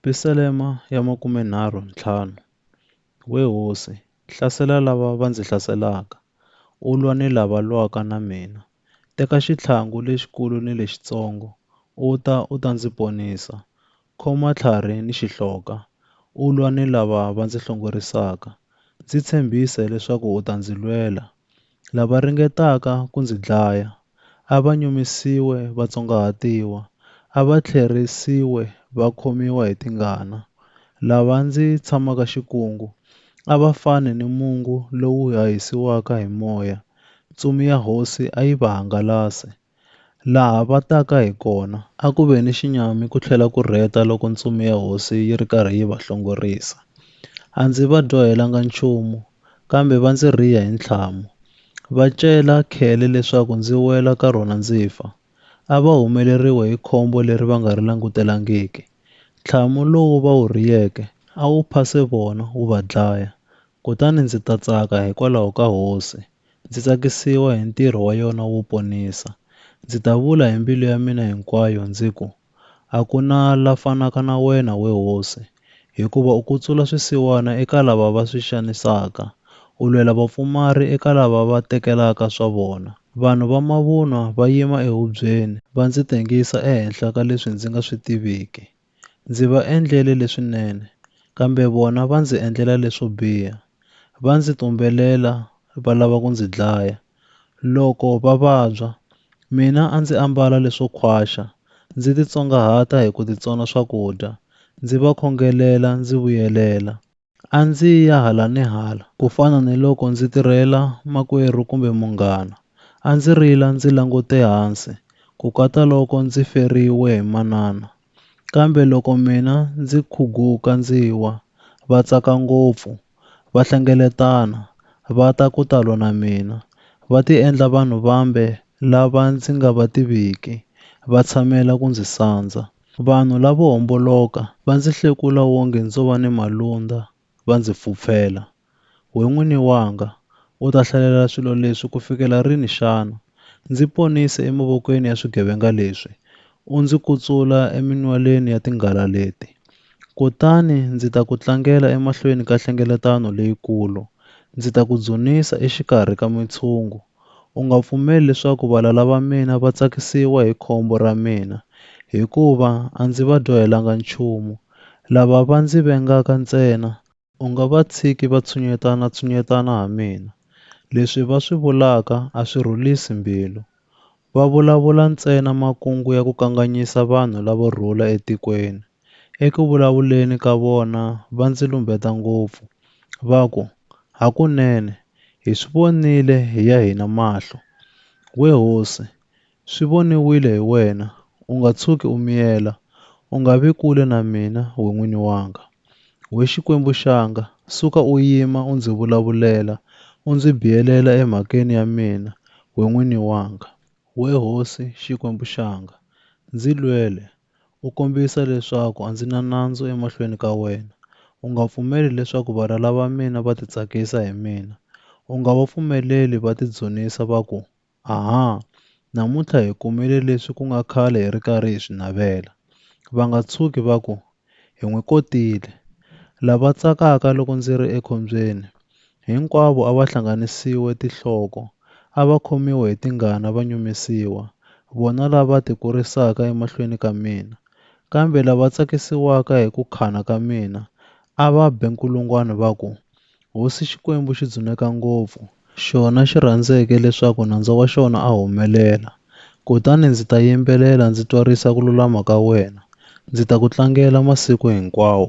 Pisalema ya makumenharhu ntlhanu, We hosi, hlasela lava va ndzi hlaselaka, u lwa ni lava lwaka na mina. Teka xitlhangu lexikulu ni lexitsongo, u ta, u ta ndzi ponisa. Khoma tlhari ni xihloka, u lwa ni lava va ndzi hlongorisaka. Ndzi tshembise leswaku u ta ndzi lwela, Lava ringetaka ku ndzi dlaya a va nyumisiwe va tsongahatiwa, a va tlherisiwe va khomiwa hi tingana. Lava ndzi tshamaka xikungu a va fane ni mungu lowu hahisiwaka hi moya, ntsumi ya hosi a yi va hangalase. Laha va taka hi kona, a ku ve ni xinyami ku tlhela ku rheta loko ntsumi ya hosi yi ri karhi yi va hlongorisa. A ndzi va dyohelanga nchumu, kambe va ndzi rhiya hi ntlhamu. Va cela khele leswaku ndzi wela ka rona ndzi fa. A va humeleriwe hi khombo leri va nga ri langutelangiki. Ntlhamu lowu va wu rhiyeke a wu phase vona wu va dlaya, kutani ndzi ta tsaka hikwalaho ka hosi, ndzi tsakisiwa hi ntirho wa yona wo ponisa. Ndzi ta vula hi mbilu ya mina hinkwayo ndzi ku, A ku na la fanaka na wena, we hosi, hikuva u kutsula swisiwana eka lava va swi xanisaka, u lwela vapfumari eka lava va tekelaka swa vona. Vanhu va mavunwa va yima ehubyeni, va ndzi tengisa ehenhla ka leswi ndzi nga swi tiviki. Ndzi va endlele leswinene, kambe vona va ndzi endlela leswo biha. Va ndzi tumbelela va lava ku ndzi dlaya. Loko va vabya, mina a ndzi ambala leswo khwaxa, ndzi titsongahata hi ku titsona swakudya, ndzi va khongelela ndzi vuyelela. A ndzi ya hala ni hala, ku fana ni loko ndzi tirhela makwerhu kumbe munghana. A ndzi rila ndzi langute hansi, ku kata loko ndzi feriwe hi manana. Kambe loko mina ndzi khuguka ndzi wa, va tsaka ngopfu, va hlengeletana, va ta ku ta lwa na mina, va tiendla vanhu vambe lava ndzi nga va tiviki, va tshamela ku ndzi sandza. Vanhu lavo homboloka va ndzi hlekula wonge ndzo va ni malundza, va ndzi pfupfela. We N'wini wanga, u ta hlalela swilo leswi ku fikela rini xana? Ndzi ponise emavokweni ya swigevenga leswi, u ndzi kutsula eminwalweni ya tinghala leti. Kutani ndzi ta ku tlangela emahlweni ka hlengeletano leyikulu, ndzi ta ku dzunisa exikarhi ka mitshungu. U nga pfumeli leswaku valala va mina va tsakisiwa hi khombo ra mina, hikuva a ndzi va dyohelanga nchumu. Lava va ndzi vengaka ntsena, u nga va tshiki va tshunyetana-tshunyetana ha mina. Leswi va swi vulaka a swi rhulisi mbilu. Va vulavula ntsena makungu ya ku kanganyisa vanhu lavo rhula etikweni. Eku vulavuleni ka vona va ndzi lumbeta ngopfu, va ku, Hakunene, hi swi vonile hi ya hina mahlo. We hosi, swi voniwile hi wena, u nga tshuki u miyela, u nga vi kule na mina, we n'wini wanga. We Xikwembu xanga, suka u yima u ndzi vulavulela, u ndzi biyelela emhakeni ya mina, we n'wini wanga. We hosi, Xikwembu xanga, ndzi lwele, U kombisa leswaku a ndzi na nandzu emahlweni ka wena. U nga pfumeli leswaku valala va mina va titsakisa hi mina. U nga va pfumeleli va tidzunisa va ku, Aha! Namuntlha hi kumile leswi ku nga khale hi ri karhi hi swi navela. Va nga tshuki va ku, Hi n'wi kotile. Lava tsakaka loko ndzi ri ekhombyeni Hinkwavo a va hlanganisiwe tinhloko, a va khomiwe hi tingana va nyumisiwa, vona lava tikurisaka emahlweni ka mina. Kambe lava tsakisiwaka hi ku khana ka mina a va be nkulungwana va ku, Hosi Xikwembu xi dzuneka ngopfu, xona xi rhandzeke leswaku nandza wa xona a humelela, kutani ndzi ta yimbelela ndzi twarisa ku lulama ka wena, ndzi ta ku tlangela masiku hinkwawo.